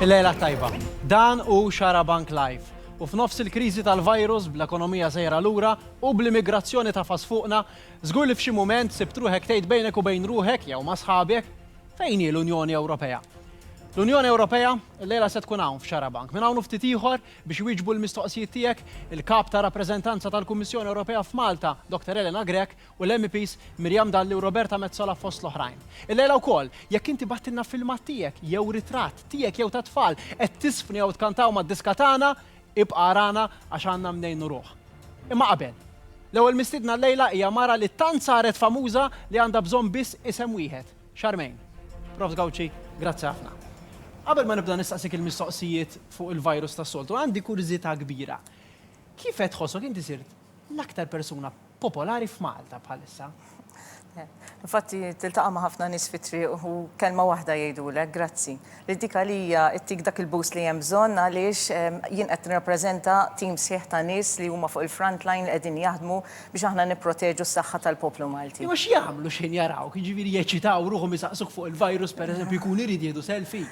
Il-lejla tajba. Dan hu Xarabank Live. U f'nofs il-kriżi tal-virus, bl-ekonomija sejra lura u bl-immigrazzjoni tafas fuqna, żgur li f'xi mument sibt ruħek tgħid bejnek u bejn ruħek jew ma' sħabek, fejn hi l-Unjoni Ewropea? L-Unjoni Ewropea llejla se tkun hawn f'Xarabank. Minn hawn u ftit ieħor biex iwieġbu l-mistoqsijiet tiegħek, il-Kap ta' Rappreżentanza tal-Kummissjoni Ewropea f'Malta, Dr. Elena Grech, u l-MEPs Miriam Dalli u Roberta Metsola fost l-oħrajn. Illejla wkoll, jekk inti bagħtilna filmat tiegħek jew ritratt tiegħek jew tat-tfal qed tiżfni jew tkantaw mad-diska tagħna, ibqa' arana għax għandna mnejn nuruh. Imma qabel, l-ewwel mistiedna llejla hija mara li tant saret famuża li għandha bżonn biss isem wieħed, Charmaine. Profs Gauci, grazzi ħafna. Qabel ma nibda nistaqsik il-mistoqsijiet fuq il-virus tas-soltu, għandi kurżità kbira. Kif qed tħossok inti sirt l-aktar persuna popolari f'Malta bħalissa. Infatti tiltaqa' ma' ħafna nies fit-triq u kelma waħda jgħidulek grazzi. Li dik għalija ttik dak il-boost li hemm bżonn għaliex jien qed nirrappreżenta tim sħiħ ta' nies li huma fuq il-front line li qegħdin jaħdmu biex aħna nipproteġu s-saħħa tal-poplu Malti. Imma x'jagħmlu x'ħin jarawk, jiġifieri jeċċitaw ruħhom isaqsuk fuq il-virus pereżempju jkun irid jieħdu selfie?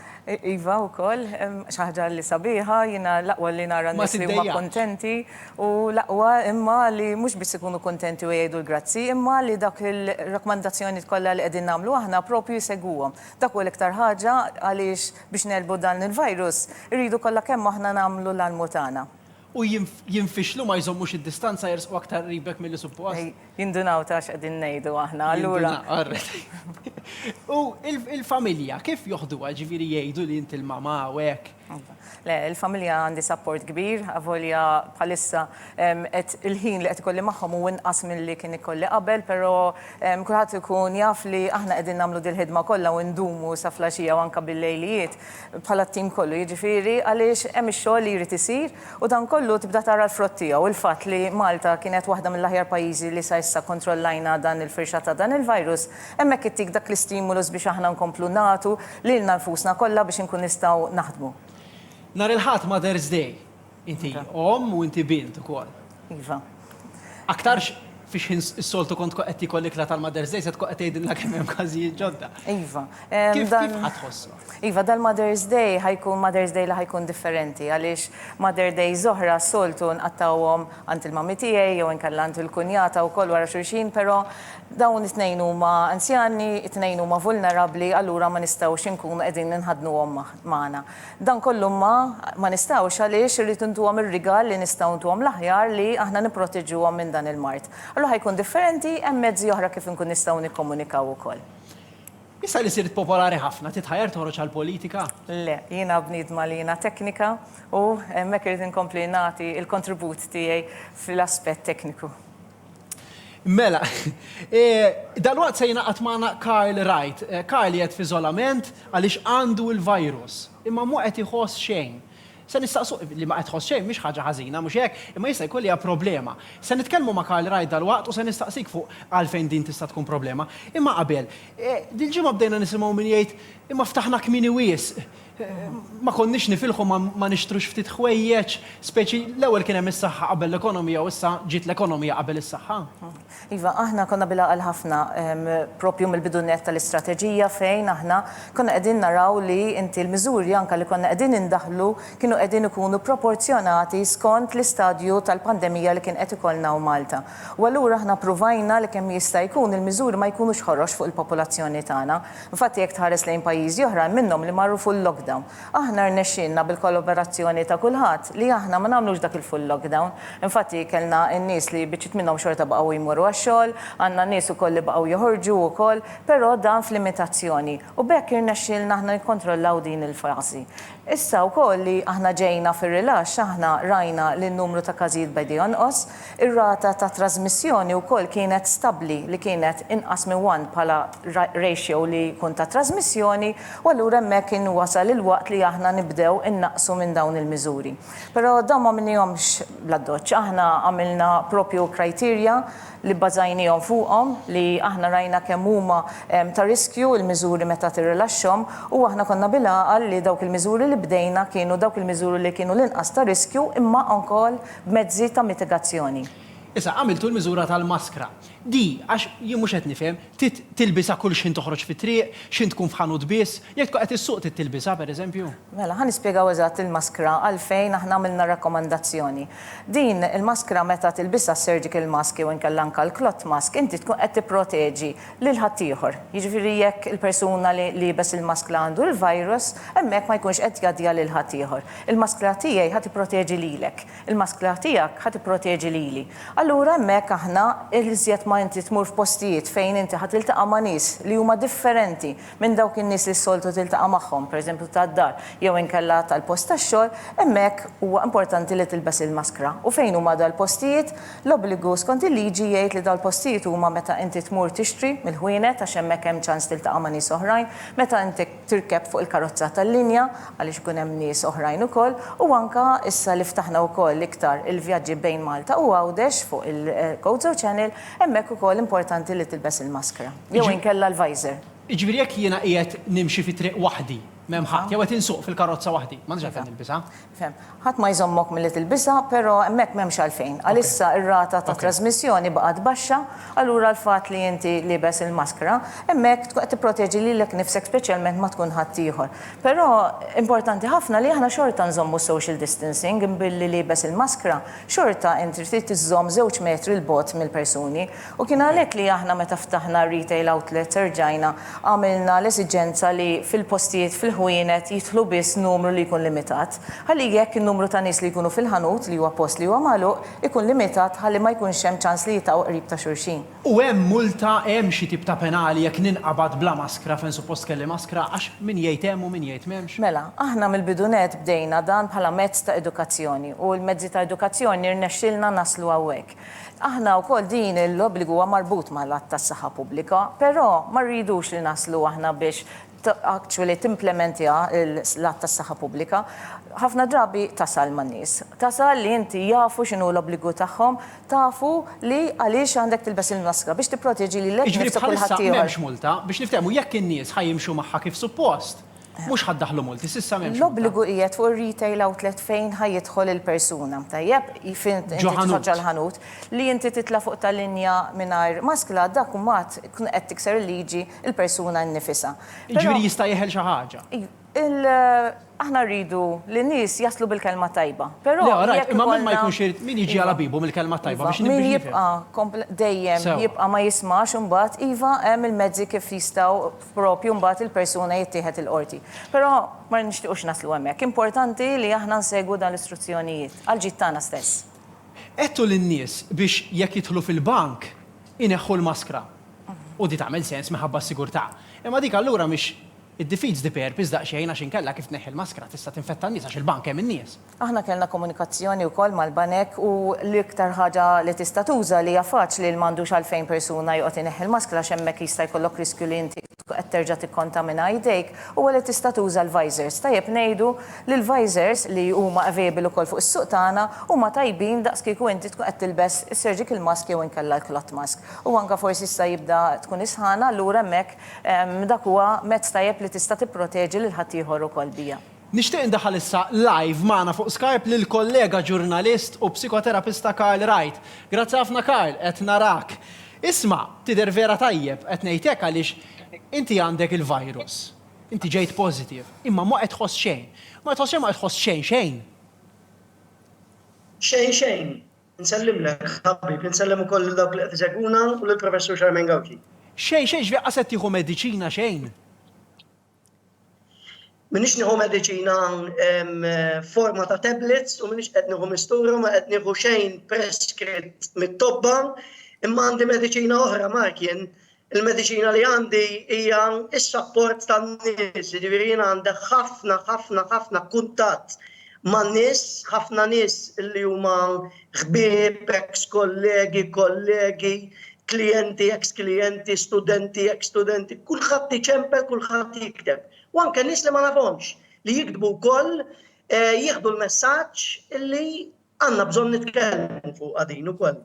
Iva wkoll, xi ħaġa li sabiħa, jiena l-aqwa li nara n-nies li huma kuntenti. Hu l-aqwa imma li mhux biss ikunu kuntenti u jgħidu l-grazzi, imma li dawk il-rakkomandazzjonijiet kollha li qegħdin nagħmlu aħna proprju jsegwuhom. Dak hu l-iktar ħaġa għaliex biex negħlbu dan il-virus irridu kollha kemm aħna nagħmlu l-almu tagħna. U jinfixlu ma jżommux id-distanza jersqu aktar qribek milli suppost. Jindunaw ta' x'qegħdin ngħidu aħna allura. U l-familja kif joħduha? Jiġifieri jgħidu li inti l-mamà u hekk. Le, il-familja għandi sapport kbir, avolja bħalissa qed il-ħin li qed ikolli magħhom hu inqas milli kien ikolli qabel, però kulħadd ikun jaf li aħna qegħdin nagħmlu dil-ħidma kollha u ndumu sa flaxija u anke bil-lejlijiet bħala t-tim kollu, jiġifieri għaliex hemm ix-xogħol li jrid isir u dan kollu tibda tara l-frott tiegħu. Il-fatt li Malta kienet waħda mill-aħjar pajjiżi li sa issa kkontrollajna dan il-firxa ta' dan il-virus, hemmhekk ittik dak l-istimulus biex aħna nkomplu nagħtu Lilna nfusna kollha biex inkun nistgħu naħdmu. Nhar il-Ħadd Mother's Day. Inti omm u inti bint ukoll. Iva. Aktarx fi xħin is-soltu kont tkun qed tiekol l-ikla tal-Mother's Day se tkun qed tgħidilna kemm hemm każijiet ġodda. Iva. Kif kif ħa tħossha? Iva, dal-Mother's Day ħa jkun Mother's Day li ħa jkun differenti għaliex Mother Days oħra s-soltu nqattgħuhom għand il-mommy tiegħi jew inkella għand il-kunjata wkoll wara xulxin, però dawn it-tnejn huma anzjani, it-tnejn huma vulnerabbli, allura ma nistgħux inkunu qegħdin inħaddnuhom magħna. Dan kollu imma ma nistgħux għaliex irrid intuhom ir-rigal li nistgħu ntuhom l-aħjar li aħna nipproteġuhom minn dan il-mard. Allura ħa jkun differenti, hemm mezzi oħra kif inkun nistgħu nikkomunikaw ukoll. Issa li sirt popolari ħafna, titħajjar toħroġ għall-politika? Le, jiena bniedma li jiena teknika u hemmhekk irrid inkompli nagħti l-kontribut tiegħi fl-aspett tekniku. Mela, dalwaqt se jingħaqad magħna Karl Wright. Karl qiegħed f'iżolament għaliex għandu l-virus, imma mhu qed iħoss xejn. Se nistaqsu, li ma qed tħoss xejn mhix ħaġa ħażina, mhux hekk? Imma jista' jkun li hija problema. Se nitkellmu ma' Karl Wright dalwaqt u se nistaqsik fuq għalfejn din tista' tkun problema. Imma qabel, dil-ġimgħa bdejna nisimgħu min jgħid, imma ftaħna kmieni wisq, ma konniex nifilħu ma nixtrux ftit ħwejjeġ, speċi l-ewwel kien hemm is-saħħa qabel l-ekonomija u issa ġiet l-ekonomija qabel is-saħħa. Iva, aħna konna bil-għaqal ħafna proprju mill-bidu nett tal-istrateġija fejn aħna konna qegħdin naraw li inti l-miżuri anke li konna qegħdin indaħħlu kienu qegħdin ikunu proporzjonati skont l-istadju tal-pandemija li kien qed ikollna hawn Malta. U allura aħna ppruvajna li kemm jista' jkun il-miżuri ma jkunux ħorox fuq il-popolazzjoni tagħna. Infatti jekk tħares lejn pajjiżi oħra hemm minnhom li marru full-lockdown. Aħna rnexxielna bil-kollaborazzjoni ta' kulħadd li aħna ma nagħmlux dak il-full lockdown. Infatti kellna n-nies li biċċiet minnhom xorta baqgħu jmorru għax-xogħol, għandna nies ukoll li baqgħu joħorġu wkoll, però dan f'limitazzjoni. U b'hekk irnexxielna aħna nikkontrollaw din il-fażi. Issa wkoll li aħna ġejna fir-rilaxx aħna rajna li n-numru ta' każijiet beda jonqos, Ir-rata ta' trażmissjoni wkoll kienet stabbli li kienet inqas minn one bħala ratio li jkun ta' trażmissjoni u allura hemmhekk kien wasal il-waqt li aħna nibdew innaqqsu minn dawn il-miżuri. Però dawn m'għamilnihomx bl-addoċċ. Aħna għamilna proprju criteria li bbażajniehom fuqhom li aħna rajna kemm huma ta' riskju l-miżuri meta tirrilaxxhom u aħna konna bil-għaqal li dawk il-miżuri li bdejna kienu dawk il-miżuri li kienu l-inqas ta' riskju imma wkoll b'mezzi ta' mitigazzjoni. Issa, għamiltu l-miżura tal-maskra. Di, għax jien mhux qed nifhem, trid tilbisha kull x'ħin toħroġ fit-triq, x'ħin tkun f'ħanut biss? Jekk tkun qed issuq trid tilbisha, pereżempju? Mela, ħa nispjegaw eżatt il-maskra għalfejn aħna għamilna r-rakkomandazzjoni. Din il-maskra meta tilbisha s-surgical mask jew inkella anke l-cloth mask, inti tkun qed tipproteġi lil ħaddieħor. Jiġifieri jekk il-persuna li liebes il-maskla għandu l-virus, hemmhekk ma jkunx qed jgħaddiha lil ħaddieħor. Il-maskla tiegħi ħa tipproteġi lilek. Il-maskla tiegħek ħa tipproteġi lili. Allura hemmhekk aħna l-iżjed ma inti tmur f'postijiet fejn inti ħa tiltaqa' ma' nies li huma differenti minn dawk in-nies li s-soltu tiltaqa' magħhom, pereżempju tad-dar jew inkella tal-post tax-xogħol, hemmhekk huwa importanti li tilbes il-maskra. U fejn huma dal-postijiet? L-obbligu skont il-liġi jgħid li dal-postijiet huma meta inti tmur tixtri mill-ħwienet għax hemmhekk hemm ċans tiltaqa' ma' nies oħrajn, meta inti tirkeb fuq il-karozza tal-linja għaliex ikun hemm nies oħrajn ukoll u anke issa li ftaħna wkoll iktar il-vjaġġi bejn Malta u Għawdex fuq il-Gozo Channel hemmhekk ukoll importanti li tilbes il-maskra jew inkella l-visor. Jiġifieri jekk jiena qiegħed nimxi fi triq waħdi, m'hemm ħadd, jew qed insuq fil-karozza waħdi, m'għandix għalfejn nilbisha? Fehm. Ħadd ma jżommok milli tilbisha, però hemmhekk m'hemmx għalfejn. Għalissa r-rata ta' trażmissjoni baqgħet baxxa, allura l-fatt li inti liebes il-maskra, hemmhekk tkun qed tipproteġi lilek nnifsek speċjalment ma tkun ħaddieħor. Però importanti ħafna li aħna xorta nżommu s-social distancing, billi liebes il-maskra, xorta int trid iżżomm żewġ metri 'l bogħod mill-persuni. U kien għalhekk li aħna meta ftaħna r-retail outlets erġajna għamilna l-esiġenza li fil-postijiet fil-ħwienet jidħlu biss numru li jkun limitat, ħalli hekk in-numru ta' nies li jkunu fil-ħanut, li huwa post li huwa magħluq, ikun limitat ħalli ma jkunx hemm ċans li jitgħu qrib ta' xulxin. U hemm multa, hemm xi tip ta' penali jekk ninqabad bla maskra fejn suppost kelli maskra għax min jgħid hemm u min jgħid m'hemmx? Mela, aħna mill-bidu nett bdejna dan bħala mezz ta' edukazzjoni u l-mezzi ta' edukazzjoni rnexxielna naslu hawnhekk. Aħna wkoll din l-obbligu huwa marbut mal-Att tas-Saħħa Pubblika, però ma rridux li naslu aħna biex actually timplementja l-Att tas-Saħħa Pubblika. Ħafna drabi tasal man-nies. Tasal li inti jafu x'inhu l-obbligu tagħhom, tafu li għaliex għandek tilbes il-maskra, biex tipproteġi lilek innifsek u l-ħaddieħor. Jiġifieri bħalissa m'hemmx multa, biex niftehmu jekk in-nies ħa jimxu magħha kif suppost, Mhux ħa ddaħħlu multi, s'issa m'hemmx. L-obbligu qiegħed fuq ir-retail outlet fejn ħa jidħol il-persuna, tajjeb, fejn inti titfaġġa l-ħanut. Li inti titla' fuq ta' linja mingħajr maskla dak mbagħad tkun qed tikser il-liġi l-persuna nnifisha. Jiġifieri jista' jeħel xi ħaġa. Aħna rridu li n-nies jaslu bil-kelma t-tajba, però. Le, rajt, imma min ma jkunx irid, min jiġi għal ħabibu mill-kelma t-tajba biex nibni. Min jibqa' dejjem jibqa' ma jismax imbagħad iva hemm il-mezzi kif jistgħu. proprju mbagħad il-persuna jittieħed il-qorti. Però ma nixtiequx naslu hemmhekk. Importanti li aħna nsegwu dan l-istruzzjonijiet, għall-ġid tagħna stess. Għedtu lin-nies biex jekk jidħlu fil-bank ineħħu l-maskra. U di tagħmel sens minħabba s-sigurtà. Imma dik allura mhix, it-defeats the purpose daqsxejn għax inkella kif tneħħi l-maskra tista' tinfetta n-nies għax il-bank hemm in-nies. Aħna kellna komunikazzjoni wkoll mal-banek u l-iktar ħaġa li tista' tuża li hija faċli li m'għandux għalfejn persuna joqgħod ineħħi l-maskra għax hemmhekk jista' jkollok riskju li inti tkun qed terġa' tikkontamina idejk huwa li tista' tuża l-visors. Tajjeb ngħidu li l-visors li huma available ukoll fuq is-suq tagħna huma tajbin daqs kieku inti tkun qed tilbes is-surgical mask jew inkella l-cloth mask. U anke forsi issa jibda tkun is-sħana allura hemmhekk dak huwa mezz tajjeb li tista' tipproteġi lil ħaddieħor ukoll biha. Nixtieq indaħħal issa live magħna fuq Skype lill-kollega ġurnalist u psikoterapista Karl Wright. Grazzi ħafna Karl, qed narak. Isma', tidher vera tajjeb, qed ngħid hekk għaliex inti għandek il-virus. Inti ġejt positive. Imma ma qed tħoss xejn. Ma qed tħoss xejn, ma qed tħoss xejn xejn. Xejn xejn. Insellimlek ħabib, insellem ukoll lil dawk li qed isegwuna u lill-Professur Charmaine Gauci. Xejn xejn, ġifieri qas qed tieħu mediċina xejn? Minix nieħu mediċina hawn forma ta' tablets u minix qed nieħu mistura ma qed nieħu xejn preskritt mit-tobba imma għandi mediċina oħra markien il-mediċina li għandi hija s-sapport tan-nies, jiġifieri jien għandi ħafna ħafna ħafna kuntatt man-nies, ħafna nies li huma ħbieb, eks kollegi, kollegi, klijenti, eks klijenti, studenti, eks studenti, kulħadd iċempel, kulħadd jikteb. U anke nies li ma nafhomx li jiktbu wkoll eh, jieħdu l-messaġġ li għandna bżonn nitkellmu fuq għadin ukoll.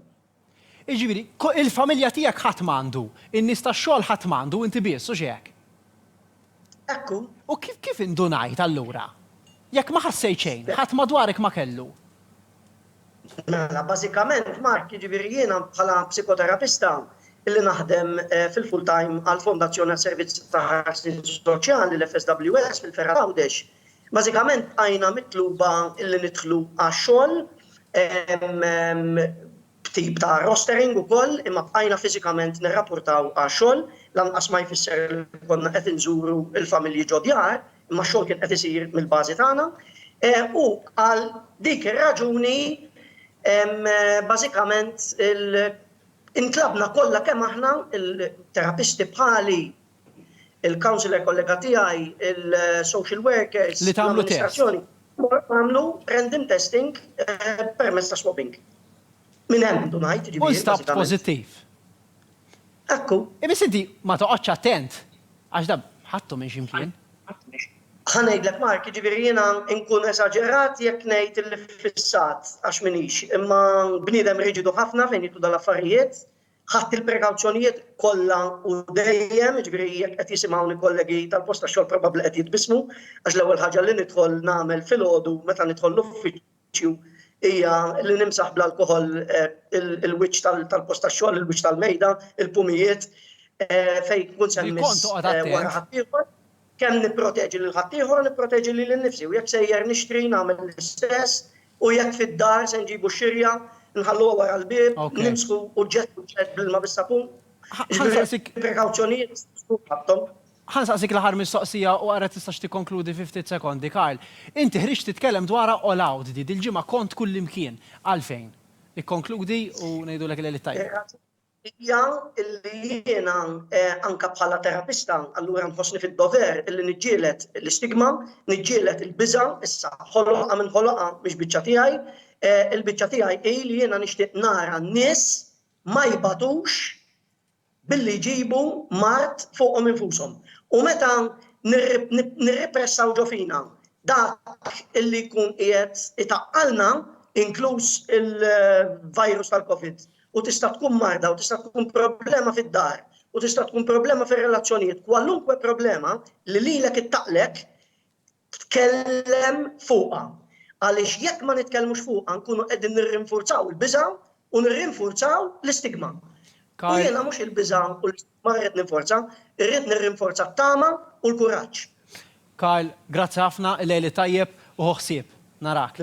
Iġifieri, il-familja tiegħek ħadd m'għandu, in-nies tax-xogħol ħadd m'għandu, inti biss, u x'hekk? Hekk hu. U kif indunajt, allura? Jekk ma ħassejt xejn, ħadd madwarek ma kellu? Mela, bażikament, Mark, jiġifieri jiena bħala psikoterapista li naħdem fil-full time għall-Fondazzjoni għas-Servizz ta' Ħarsien Soċjali, l-FSWS, fil-Fergħa t'Għawdex, bażikament bqajna mitluba li nidħlu għax-xogħol b'tip ta' rostering ukoll, imma bqajna fiżikament nirrapportaw għax-xogħol, lanqas ma jfisser li konna qed inżuru l-familji ġod-djar, imma x-xogħol kien qed isir mill-bażi tagħna. U għal dik ir-raġuni bażikament intlabna kollha kemm aħna, il-terapisti bħali, il-councillor kollega tiegħi, il-social workers, l-amministrazzjoni, għamlu random testing permezz ta' swabbing. Minn hemm du ngħid, ġifieri. U stabt pożittiv. Ekku. Ibis inti ma toqgħodx attent għax dab ħattu minn ximkien. Ħanejdlek Mark, ġifieri jiena nkun esaġerat jekk ngħid il-fissat għax minix, imma bniedem riġidu ħafna fejn jitlu dal-affarijiet, Ħadt il-prekawzjonijiet kollha u dejjem, jiġifieri jekk qed jisimgħuni kollegi tal-post tax-xogħol probabbli qed jitbissmu għax l-ewwel ħaġa li nidħol nagħmel filgħodu meta nidħol l-uffiċċju hija li nimsaħ bl-alkoħol il-wiċċ tal-post tax-xogħol, il-wiċċ tal-mejda, il-pumijiet fejn tkun se mmiss wara ħaddieħor. Kemm nipproteġi lil ħaddieħor u nipproteġi lili nnifsi u jekk sejjer nixtri nagħmel l-istess u jekk fid-dar se nġibu x-xirja nħalluha wara l-bieb, nimsħu u ġġestu l-ġelt bl-ilma bis-sapun. Jiġifieri prekawzjonijiet jistgħu jkunu ħadthom. Ħa nsaqsik l-aħħar mistoqsija u ara tistax tikkonkludu fi ftit sekondi, Karl. Inti ħriġt titkellem dwarha all out di, dil-ġimgħa kont kullimkien. Għalfejn? Ikkonkludi u ngħidulek il-Għeliet Tajbin. hija li jiena anke bħala terapista allura nħossni fid-dover illi niġġieled l-istigma, niġġieled il-biża', issa ħoloqha min ħoloqha mhix biċċa tiegħi, il-biċċa tiegħi hi li jiena nixtieq nara n-nies ma jbatux billi jġibu mard fuqhom infushom. U meta nirripressaw ġo fina dak illi jkun qiegħed itaqqalna, inkluż il-virus tal-Covid, u tista' tkun marda u tista' tkun problema fid-dar u tista' tkun problema fir-relazzjonijiet, kwalunkwe problema li lilek ittaqlek tkellem fuqha. Għaliex jekk ma nitkellmux fuqha nkunu qegħdin nirrinfurzaw il-biża' u nirrinfurzaw l-istigma. U jiena mhux il-biża' u l-istigma Ma rrid ninforza, irrid nirrinforza t-tama u l-kuraġġ. Karl, grazzi ħafna, il-Għeid tajjeb u ħu ħsieb. Narak.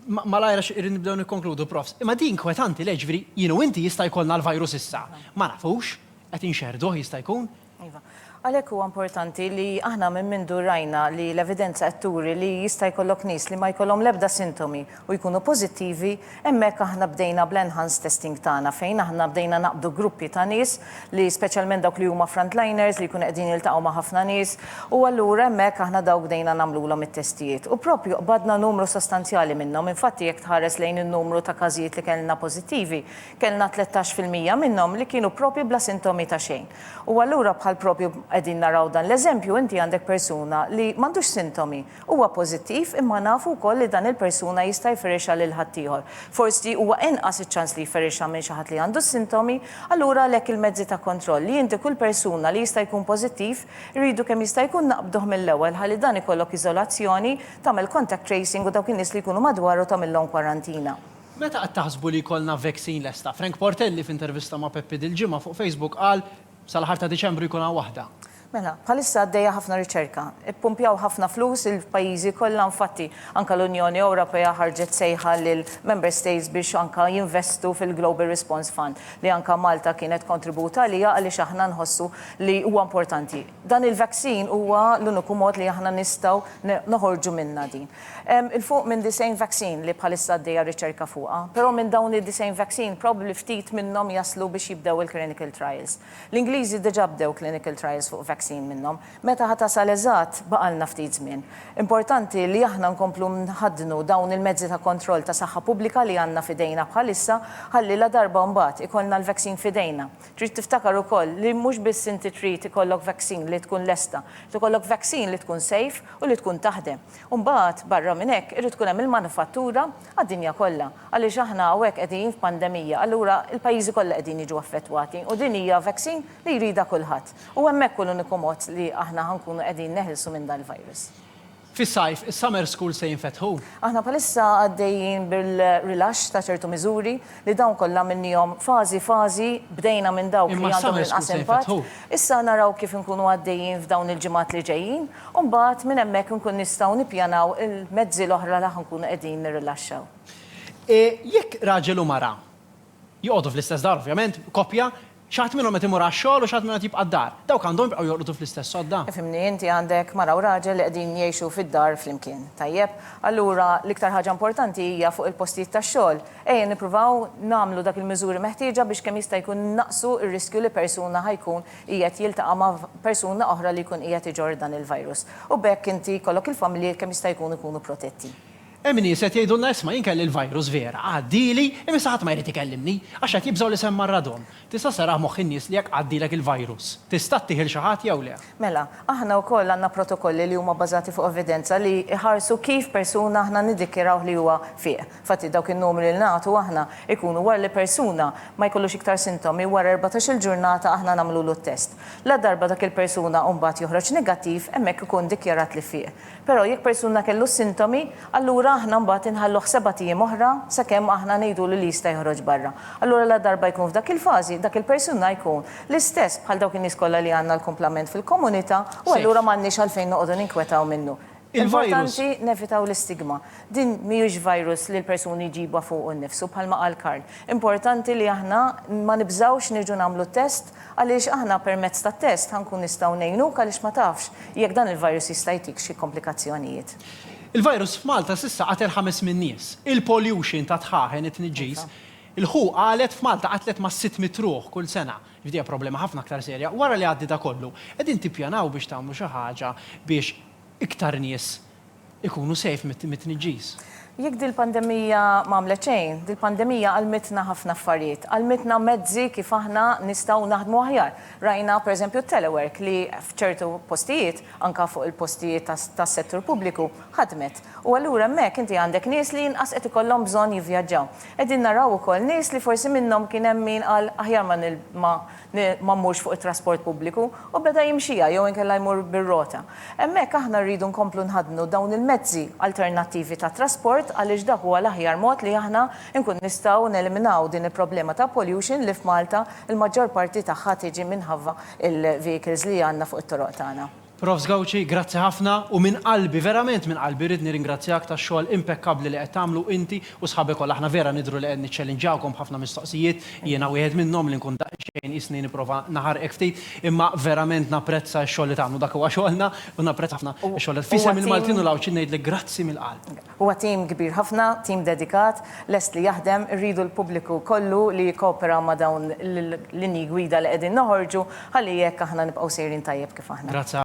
Malajr għax irrid nibdew nikkonkludu, Profs. Imma din inkwetanti, le, ġifieri jien u inti jista' jkollna l-virus issa. Ma nafux, qed inxerrduh jista' jkun, Iva. Għalhekk huwa importanti li aħna minn mindu rajna li l-evidenza qed turi li jista' jkollok nies li ma jkollhom l-ebda sintomi u jkunu pożittivi, hemmhekk aħna bdejna bl-enhanced testing tagħna fejn aħna bdejna naqbdu gruppi ta' nies li speċjalment dawk li huma frontliners li jkunu qegħdin jiltaqgħu ma' ħafna nies u allura hemmhekk aħna dawk bdejna nagħmlulhom it-testijiet u proprju qbadna numru sostanzjali minnhom. Infatti jekk tħares lejn in-numru ta' każijiet li kellna pożittivi, kellna tlettax fil-mija minnhom li kienu proprju bla sintomi ta' xejn. U allura bħal propju qegħdin naraw dan l-eżempju, inti għandek persuna li m'għandux sintomi, huwa pożittiv imma nafu wkoll li dan il-persuna jista' jferrixha lil ħaddieħor. Forsi huwa inqas iċ-ċans li jferrixha minn xi ħadd li għandu s-sintomi, allura għalhekk il-mezzi ta' kontroll li inti kull persuna li jista' jkun pożittiv irridu kemm jista' jkun naqbduh mill-ewwel ħalli dan ikollok iżolazzjoni, tagħmel contact tracing u dawk in-nies li jkunu madwaru tagħmilhom kwarantina. Meta qed taħsbu li jkollna vaccine lesta? Frank Portelli f'intervista ma' Peppi dil-ġimgħa fuq Facebook qal, Sal-aħħar ta' Diċembru jkun hawn waħda. Mela, bħalissa għaddejja ħafna riċerka. Ippumpjaw ħafna flus il-pajjiżi kollha infatti anke l-Unjoni Ewropea ħarġet sejħa lill-Member States biex anke jinvestu fil-Global Response Fund li anke Malta kienet kontribut għaliha għaliex aħna nħossu li huwa importanti. Dan il-vaccine huwa l-uniku mod li aħna nistgħu noħorġu minnha din. Hemm 'il fuq minn 90 vaccine li bħalissa għaddejja r-riċerka fuqha, però minn dawn id-90 vaccine probably ftit minnhom jaslu biex jibdew il-clinical trials. L-Ingliżi diġà bdew clinical trials fuq vaccine minnhom. Meta ħa tasal eżatt baqgħalna ftit żmien. Importanti li aħna nkomplu nħaddnu dawn il-mezzi ta' kontroll ta' saħħa pubblika li għandna f'idejna bħalissa ħalli ladarba mbagħad ikollna l-vaccine f'idejna, Trid tiftakar ukoll li mhux biss inti trid ikollok vaccine li tkun lesta, trid ikollok vaccine li tkun safe u li tkun taħdem. U mbagħad barra minn hekk irid tkun hemm il-manifattura għad-dinja kollha għaliex aħna hawnhekk qegħdin f'pandemija allura l-pajjiżi kollha qegħdin jiġu affettwati u din hija vaccine li jridha kulħadd. U hemmhekk hu l-uniku mod li aħna ħa nkunu qegħdin neħilsu minn dan il-virus. Fis-sajf, is-summer schools se jinfetħu? Aħna bħalissa għaddejjin bil-rilaxx ta' ċertu miżuri li dawn kollha għamilniehom fażi fażi, bdejna minn dawk li għandhom l-inqas impatt, issa naraw kif inkunu għaddejjin f'dawn il-ġimgħat li ġejjin u mbagħad minn hemmhekk inkun nistgħu nippjanaw il-mezzi l-oħra li ħa nkunu qegħdin nirrilaxxaw. Jekk raġel u mara joqogħdu fl-istess dar ovvjament, koppja, Xi ħadd minnhom qed imur għax-xogħol u xi ħadd minnhom qed jibqa' d-dar. Dawk għandhom jibqgħu jorqdu fl-istess sodda? Ifhimni, inti għandek mara u raġel li qegħdin jgħixu fid-dar flimkien. Tajjeb, allura l-iktar ħaġa importanti hija fuq il-postijiet tax-xogħol. Ejja nippruvaw nagħmlu dak il-miżuri meħtieġa biex kemm jista' jkun innaqqsu r-riskju li persuna ħa jkun qiegħed jiltaqa' ma' persuna oħra li jkun qiegħed iġorr dan il-virus. U b'hekk inti jkollok il-familji kemm jista' jkun ikunu protetti. Hemm nies qed jgħidulna isma' jien kelli l-virus vera, għaddieli, imma issa ħadd ma jrid ikellimni, għax qed jibżgħu li se mmarradhom. Tista' ssarrah moħħ in-nies li jekk għaddielek il-virus, tista' ttih 'il xi ħadd jew le? Mela, aħna wkoll għandna protokolli li huma bbażati fuq evidenza li jħarsu kif persuna aħna niddikjarawh li huwa fih. Infatti dawk in-numri li nagħtu aħna jkunu wara li persuna ma jkollux iktar sintomi wara erbatax-il ġurnata aħna nagħmlulu t-test. Ladarba dak il-persuna mbagħad joħroġ negattiv hemmhekk ikun dikjarat li fih. Però jekk persuna kellu s-sintomi, allura aħna mbagħad inħalluh sebat ijiem oħra sakemm aħna ngħidulu li jista' joħroġ barra. Allura ladarba jkun f'dak il-fażi, dak il-persuna jkun l-istess bħal dawk in-nies kollha li għandna l-kumplament fil-komunità u allura m'għandniex għalfejn noqogħdu ninkwetaw minnu. Importanti nevitaw l-istigma. Din mhijiex virus li l-persuni jġibha fuqu nnifsu bħalma qal Karl. Importanti li aħna ma nibżgħux nerġgħu nagħmlu t-test, Għaliex aħna permezz tat-test ħa nkun nistgħu ngħinuk għaliex ma tafx jekk dan il-virus jista' jtik xi komplikazzjonijiet. Il-virus f'Malta s'issa qatel ħames min-nies. Il-pollution tad-dħaħen, it-tniġġis, il-who qalet f'Malta qatlet ma' sitt mitt ruħ kull sena. Jiġifieri hija problema ħafna aktar serja. Wara li jgħaddi da kollu, qegħdin tippjanaw biex tagħmlu xi ħaġa biex iktar nies ikunu safe mit-tniġġis. Jekk dil-pandemija ma għamlet xejn, dil-pandemija għallmitna ħafna affarijiet. Għallmitna mezzi kif aħna nistgħu naħdmu aħjar. Rajna, per eżempju, t-telework li f'ċertu postijiet, anke fuq il-postijiet tas-settur pubbliku, ħadmet. U allura hemmhekk inti għandek nies li inqas qed ikollhom bżonn jivvjaġġaw. Qegħdin naraw ukoll nies li forsi minnhom kien hemm min qal aħjar ma li ma mmurx fuq it-trasport pubbliku u beda jimxija jew inkella jmur bir-rota. Hemmhekk aħna rridu nkomplu nħaddnu dawn il-mezzi alternattivi ta' trasport għaliex dak huwa l-aħjar mod li aħna nkunu nistgħu neliminaw din il-problema ta' pollution li f'Malta l-maġġor parti tagħha tiġi minħabba l-vehicles li għandna fuq it-toroq tagħna. Profs Gauci, grazzi ħafna u minn qalbi, verament minn qalbi rrid nirringrazzjak tax-xogħol impekkabbli li qed tagħmlu inti u sħabek kollha. Aħna vera nidhru li qed niċċellinġawkom b'ħafna mistoqsijiet, jiena wieħed minnhom li nkun daqsxejn qisni nipprova naħarqek ftit, imma verament napprezza x-xogħol li tagħmlu, dak huwa xogħolna u napprezza ħafna x-xogħol li F'isem il-Maltin u l-Għawdxin ngħidlek grazzi mill-qalb. Huwa tim kbir ħafna, tim dedikat, lest li jaħdem, irridu l-pubbliku kollu li jikkopera ma' dawn l-linji gwida li qegħdin noħorġu ħalli hekk aħna nibqgħu sejrin tajjeb kif aħna. Grazzi